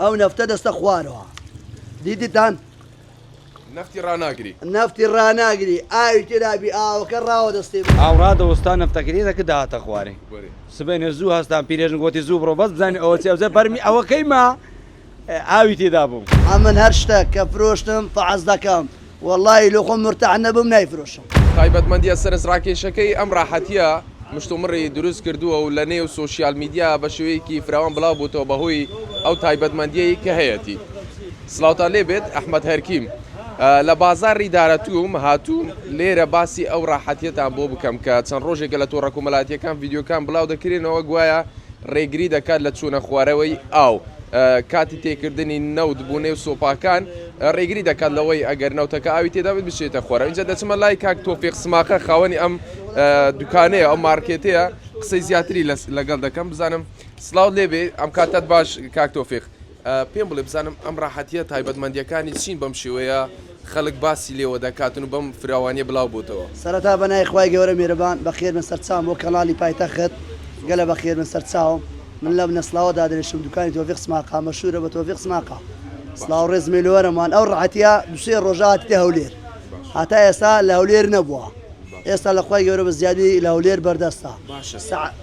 ئەو نەفتە دەستە خوارەوە دیدتان. نەفتی ڕاناگری نەفتی ڕاناگری ئاوی تێدابی ئاوەکە ڕاوە دەستێ. ئاو ڕادەوەستا نەفتەکەی دەکرد دەهاتە خوارێ سبەینێ زوو هەستان پیرێژن گۆتی زوو بڕۆ بەس بزانین ئەوە چی ئەوجا بەرمی ئەوەکەی ما ئاوی تێدا بوو. ئەمن هەر شتەک کە فرۆشتم فەحس دەکەم. وەڵاهی لۆ خۆم مورتاح نەبم نایفرۆشم. تایبەتمەندیە سەرنجڕاکێشەکەی ئەم ڕاحەتیە مشتومڕی دروست کردووە و لە نێو سۆشیال میدیا بە شێوەیەکی فراوان بڵاو بووتەوە بە هۆی ئەو تایبەتمەندیەی کە هەیەتی. سڵاوتان لێ بێت ئەحمەد هەرکیم. لە بازاڕی دارەتووم هاتووم لێرە باسی ئەو ڕاحەتیەتان بۆ بکەم کە چەند ڕۆژێکە لە تۆڕە کۆمەلاتیەکان ڤیدیۆکان بڵاو دەکرێنەوە گوایە ڕێگری دەکات لە چوونە خوارەوەی ئاو کاتی تێکردنی نەوت بۆ نێو سۆپاکان. ڕێگری دەکات لەوەی ئەگەر نەوتەکە ئاوی تێدا بێت بچێتە خۆرەوە ئینجا دەچمە لای کاک تۆفیق سماقە خاوەنی ئەم دوکانەیە ئەو مارکێتەیە قسەی زیاتری لەگەڵ دەکەم بزانم سلااو لێبێ ئەم کاتت باش کاک تۆفیق پێم بڵێ بزانم ئەم ڕاحەتە تایبەتمەندیەکانی چین بەم شێوەیە خەڵک باسی لێوە دەکاتن و بەم فراوانیە بلاو بۆتەوە سەرەتا بەنای خوای گەورە میرەبان بەخێربن سەرچاوم بۆ کەناڵی پایتەخت گەلە بەخێربن سەرچاوم. من لە بنەسڵاوە دادەنیشم دوکانی تۆفیق سماقە مەشورە بە تۆفیق سماقە سڵاو ڕێز مێلوەرم وان ئەو ڕەحەتیە دوسێ ڕۆژە هاتیتە هەولێر هەتا ئێستا لە هەولێر نەبووە ئێستا لە خوای گەورە بە زیادی لە هەولێر بەردەستە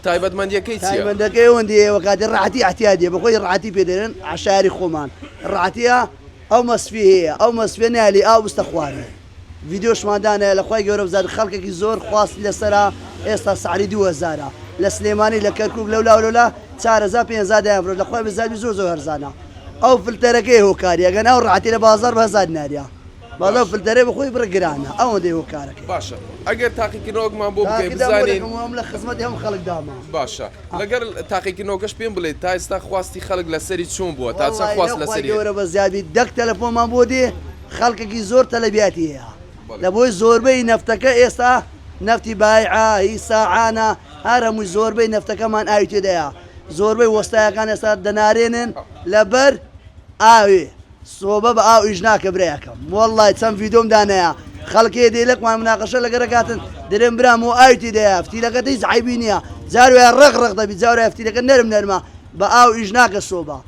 تایبەتمەندەکەی تایبەندەکەی ئەوەندی ئێوە کاتی ڕاتی احتیادیە بەخۆی ڕاتی پێدەێن عشاری خۆمان ڕاتیە ئەو مەسفی هەیە ئەو مەسفێ نالی ئاو بستە خوارێ ڤیدیۆشمان دانێ لە خوای گەورە بزانین خەڵکێکی زۆر خواستی لەسەرە ئێستا سعری دوو هەزارە لە سلێمانی لە کەرکوک لەولا و لەولا چار هەزار پێنج هەزار دەیان فرۆشت لە خوای بزانین زۆر زۆر هەرزانە ئەو فلتەرەکەیە هۆکاری ئەگەنا ئەو ڕەعەتی لە بازاڕ بە هەزار دیناریە بەس ئەو فلتەرەی بە خۆی بڕە گرانە ئەوەندەی هۆکارەکەی. باشە ئەگەر تاقیکردنەوەکمان بۆ بکەی تاقیدا بزانین. مۆرەکەم وام لە خزمەتی هەموو خەڵکدامە. باشە لەگەر تاقیکردنەوەکەش پێم بڵێ تا ئێستا خواستی خەڵک لەسەری چۆن بووە تا چەند وەڵاهی خواست لە خوای لەسەری هەیە. گەورە بە زیادی دەک تەلەفۆنمان بۆ دێ خەڵکەکی زۆر تەلەبیاتی هەیە لەبۆی زۆربەی نەفتەکە ئێستا نەفتی بایعە هی ساعانە هەر هەمووی زۆربەی نەفتەکەمان ئاوی تێدایە زۆربەی وەستایەکان ئێستا دەنارێنن لەبەر ئاوێ سۆبە بە ئاو ئیش ناکە برایەکەم وەڵی چەند ڤیدۆم دانەیە خەڵکێ دێلەکمان مناقەشە لەگەرەکاتن درێن برا مۆ ئاوی تێدایە فتیلەکەت هیچ عیبی نییە جاروایە ڕق ڕق دەبی جاروایە فتیلەکە نەرم نەرمە بە ئاو ئیش ناکە سۆبە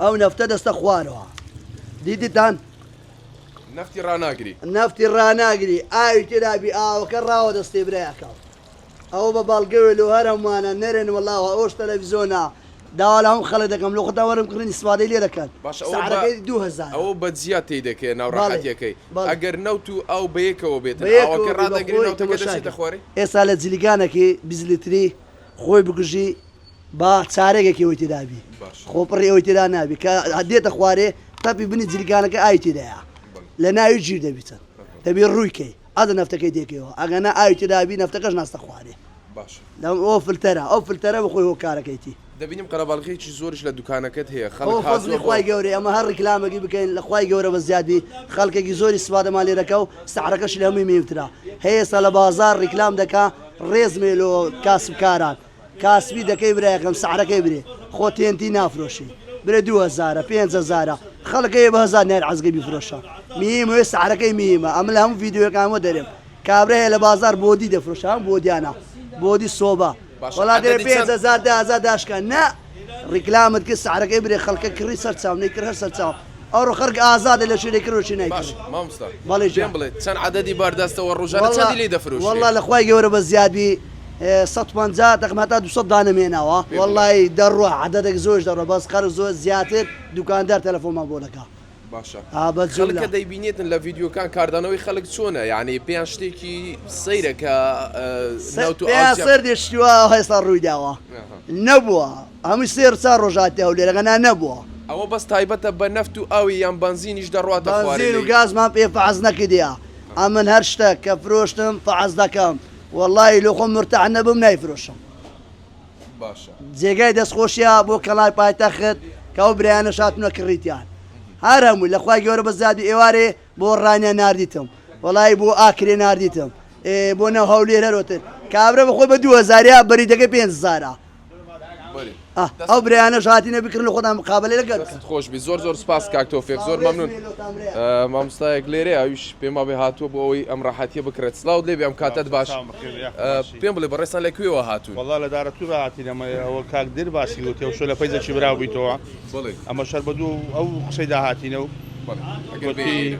ئەو نەفتە دەستە خوارەوە دیدتان. نەفتی ڕاناگری. نەفتی ڕاناگری ئاوی تێدا بی ئاوەکە ڕاوە دەستێ برایەکەم. ئەوە بە باڵگەوێ لۆ هەر هەمووانە نەرێن وەڵاوە ئەوش تەلەڤیزۆنە داوا لە هەموو خەڵک دەکەم لۆ خۆتان وەرن بکڕن ئیستفادەی لێ دەکەن باشە ئەوە بە سعرەکەی دوو هەزارە ئەوە بە جیا تێی دەکەیە ناو بەڵێ ڕەحەتیەکەی بەڵێ ئەگەر نەوت و ئاو بەیەکەوە بێتن بە ئاوەکە یەکەوە بێ بە ڕادەگری خۆی نەوتەکە تەماشا دەچێتە کە خوارێ؟ ئێستا لە جلیگانەکی بیست لیتری خۆی بگژی با چارەگەکی ئەوەی تێدا بی خۆپڕی ئەوەی تێدا نابی کە دێتە خوارێ تەپی بنی جلگانەکە ئاوی تێدایە لە ناوی ژیر دەبی چەند دەبی ڕووی کەی ئەدە نەفتەکەی تێکەوە ئەگەنا ئاوی تێدا بی نەفتەکەش ناستە خوارێ باشە لەم ئەو فلتەرە ئەو فلتەرە بە خۆی هۆکارەکەیتی دەبینم قەرەباڵغیەکی زۆرش لە دوکانەکەت هەیە خەڵک ئەو فەزلی هاتووە خوای بۆ گەورەی ئەمە هەر ڕیکلامەکی بکەین لە خوای گەورە بە زیاد بی خەڵکێکی زۆری سوادەمان لێ دەکا و سەعرەکەشی لە هەمووی مێوترا هەیە ئێستا لە بازاڕ ڕیکلام دەکا ڕێزمێ لۆ کاسبکاران کاسپی دەکەی برایەکەم سعرەکەی برێ خۆ تێنتی نافرۆشی برێ دوو هەزارە پێنج هەزارە خەڵک هەیە بە هەزار نایەر عەزگەی بیفرۆشە میم هەیە سعرەکەی میمە ئەمە لە هەموو ڤیدیۆیەکان وە دەرێم کابرا هەیە لە بازار بۆدی دەفرۆشە هەم بۆدیانە بۆدی سۆبە باشە وەڵا دەرێ عەدەدی پێنج چەند؟ هەزار دە هەزار داشکا نا ڕیکلامت کرد سعرەکەی برێ خەڵکە کڕی سەر چاو نەی کرد هەر سەر چاو ئەوڕۆ خەرک ئازادە لە شوێنێ کرد و شوێنای کرد باشە ماموستا بەڵێ پێم گیان بڵێ چەن عەدەدی بار دەستە وە ڕوژانە واللە چەندی لی دەفروشرێ؟ واللە لە خوای گە ورە بە زیاد بی سەد پەنجا دەقم هەتا دوو سەد دانەم هێناوە. پێ بڵێ. وەڵایی دەڕوا عەدەدەک زۆش دەڕوا بەس خەرک زۆر زیاتر دوکاندار تەلەفۆنمان بۆ دەکا باشە خەلکە دەیبینێتن لە ڤیددیوکان کاردانەوەی خەلک چۆنە یعنی پێیان شتێکی سەیرە کە سەر دێشتووە هێستا ڕووی داوە نەبووە هەمووی سێر چا ڕۆژاتی هەو لێرەگەنا نەبووە ئەوە بەس تایبەتە بە نەفت و ئاوی یان بنزینیش دەڕاتە و گازمان پێ فعز نەکردیا ئەمن هەر شتە کە فرۆشتم فعز دەکەم واللهی لۆخۆم مرتاح نەبم نایفرۆشم. باشە. جێگای دەست خۆشیە بۆ کەڵای پایتەخت کە ئەو برایانەش هاتونە کڕیتیان هەر هەمووی لە خوای گەورە بەس زیادی ئێوارێ بۆ ڕانیە ناردیتم وەڵایی بۆ ئاکرێ ناردیتم ئێ بۆ ناو هەولێر هەرۆتر کابرا بەخۆی بە دوو هەزاریا بەریدەکەی پێنج هەزارە بەری ئە ئەو برایانە ژاتی نەبی کڕن لە خۆتان مقابلە لەگەر بکەن. دەستت خۆش بی زۆر زۆر سپاس کاک تۆفێق زۆر هاوڕێ مەمنون سمێلۆ تان برایە. ئە، مامۆستایەک لێرەیە ئەویش پێما بێ هاتووە بۆ ئەوەی ئەم ڕاحەتیە بکڕێت سڵاوت لێبێ ئەم کاتەت باش. پێم بڵێ بەڕێزتان لە کوێوە هاتوون؟ وەڵا لە دارەتوورا هاتین ئەمە ئەوە کاک دێر باسی کرد وتی ئەو شوێنە فەیزێکی برا بوویتەوە بەڵێ ئەمە شەر بە دوو ئەو قسەیدا هاتینە و بەڵێ ئەگەر وتی بێ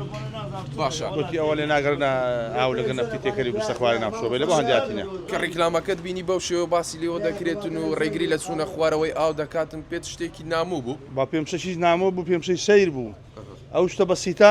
باشە وتی ئەوە لێ ناگرنە ئاو لەگەر نەفتی تێکەری بستە خوارە ناو شۆبێ لە بۆ هەندی هاتینە کە ڕیکلامەکەت بینی بەو شێوە باسی لێوە دەکرێتن و ڕێگری لە چوونە خوارەوەی ئاو دەکاتن پێت شتێکی نامۆ بوو؟ با پێم شەشی نامۆ بوو پێم شەی سەیر بوو ئەو شتە بەسیتە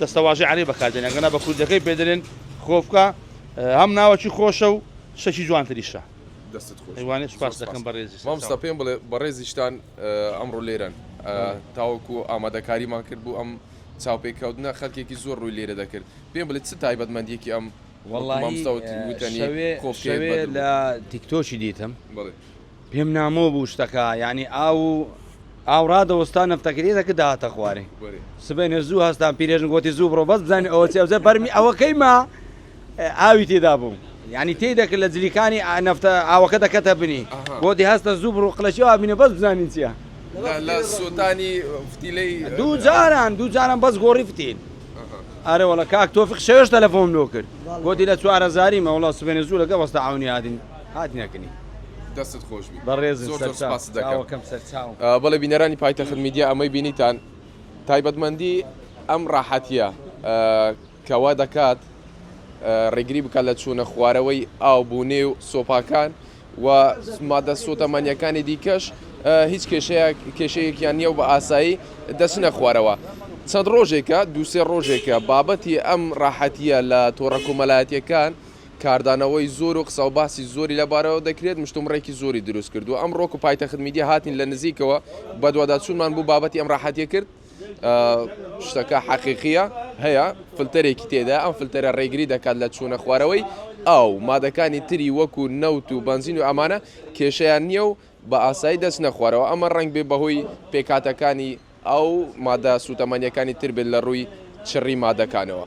دەستەواژەی عەرەبی بەکاردێنێ ئەگەرنا بە کوردەکەی پێ دەلێن خۆفکە هەم ناوەکی خۆشە و شتەکی جوانتریشە. دەستت خۆش بێت وانێ سوپاست زۆر دەکەم بەڕێزی سەر مامۆستا چاوم. پێم بڵێ بەڕێزیشتان ئەمڕۆ لێرەن بەڵێ. تاوەکو ئامادەکاریمان کرد بۆ ئەم چاوپێکەوتنە خەلکێکی زۆر ڕووی لێرە دەکرد پێم بڵێ چ تایبەتمەندیەکی ئەم وەڵاهی مامۆستا وتنی شەوێ کۆفکەیەت شەوێ بەدڵ لە بوو. تیکتۆکی دیتم بەڵێ. پێم نامۆ بوو شتەکە یانی ئاو و ئاو ڕادەوەستا نەفتەکە لێ دەکرد دەهاتە خوارێ سبەینێ زوو هەستام پیرێژن گۆتی زوو بڕۆ بەس بزانین ئەوە چی ئەوجا بەرمی ئەوەکەی ما ئاوی تێدا بوو یانی تێی دەکرد لە جلیکانی ئا- نەفتە ئاوەکە دەکەتە بنی ئەها. گۆتی هەستە زوو بڕۆ قلەشی ئاو بینە بەس بزانین چییە لە لە سووتانی فتیلەی دوو جاران دوو جاران بەس گۆڕی فتیل ئەها. ئەرێ وەڵا کاک تۆفیق شەوێش تەلەفۆنم لۆ کرد گۆتی لە چوارەزاریمە وەڵا سبەینێ زوو لەگەڵ وەستا عەونی هاتین هاتنە کنی. دەستت خۆش بی بەڕێزن زۆر زۆر سەرچاو سپاست دەکەم چاوەکەم سەرچاوم. بەڵێ بینەرانی پایتەخت میدیا ئەمەی بینیتان تایبەتمەندی ئەم ڕاحەتیە کە وا دەکات ڕێگری بکات لە چوونە خوارەوەی ئاو بۆ نێو سۆپاکان و مادە سۆتەمەنیەکانی دیکەش هیچ کێشەیە کێشەیەکیان نییە و بە ئاسایی دەچنە خوارەوە چەند ڕۆژێکە دووسێ ڕۆژێکە بابەتی ئەم ڕاحەتیە لە تۆڕە کۆمەلایەتیەکان و کاردانەوەی زۆر و قسە و باسی زۆری لە بارەوە دەکرێت، مشتومڕێکی زۆری دروست کردووە. ئەمڕۆک و پایتەخت میدیا هاتین لە نزیکەوە بەدواداچوونمان بۆ بابەتی ئەم ڕاحەتیە کرد. شتەکە حەقیقیە، هەیە فلتەرێکی تێدایە، ئەم فلتەرە ڕێگری دەکات لە چوونە خوارەوەی ئاو، مادەکانی تری وەکو نەوت و بەنزین و ئەمانە کێشەیان نیە و بە ئاسایی دەچنە خوارەوە، ئەمە ڕەنگبێ بەهۆی پێکهاتەکانی. ئەو مادە سوتەمەنیەکانی تر بێت لە ڕووی چڕی مادەکانەوە.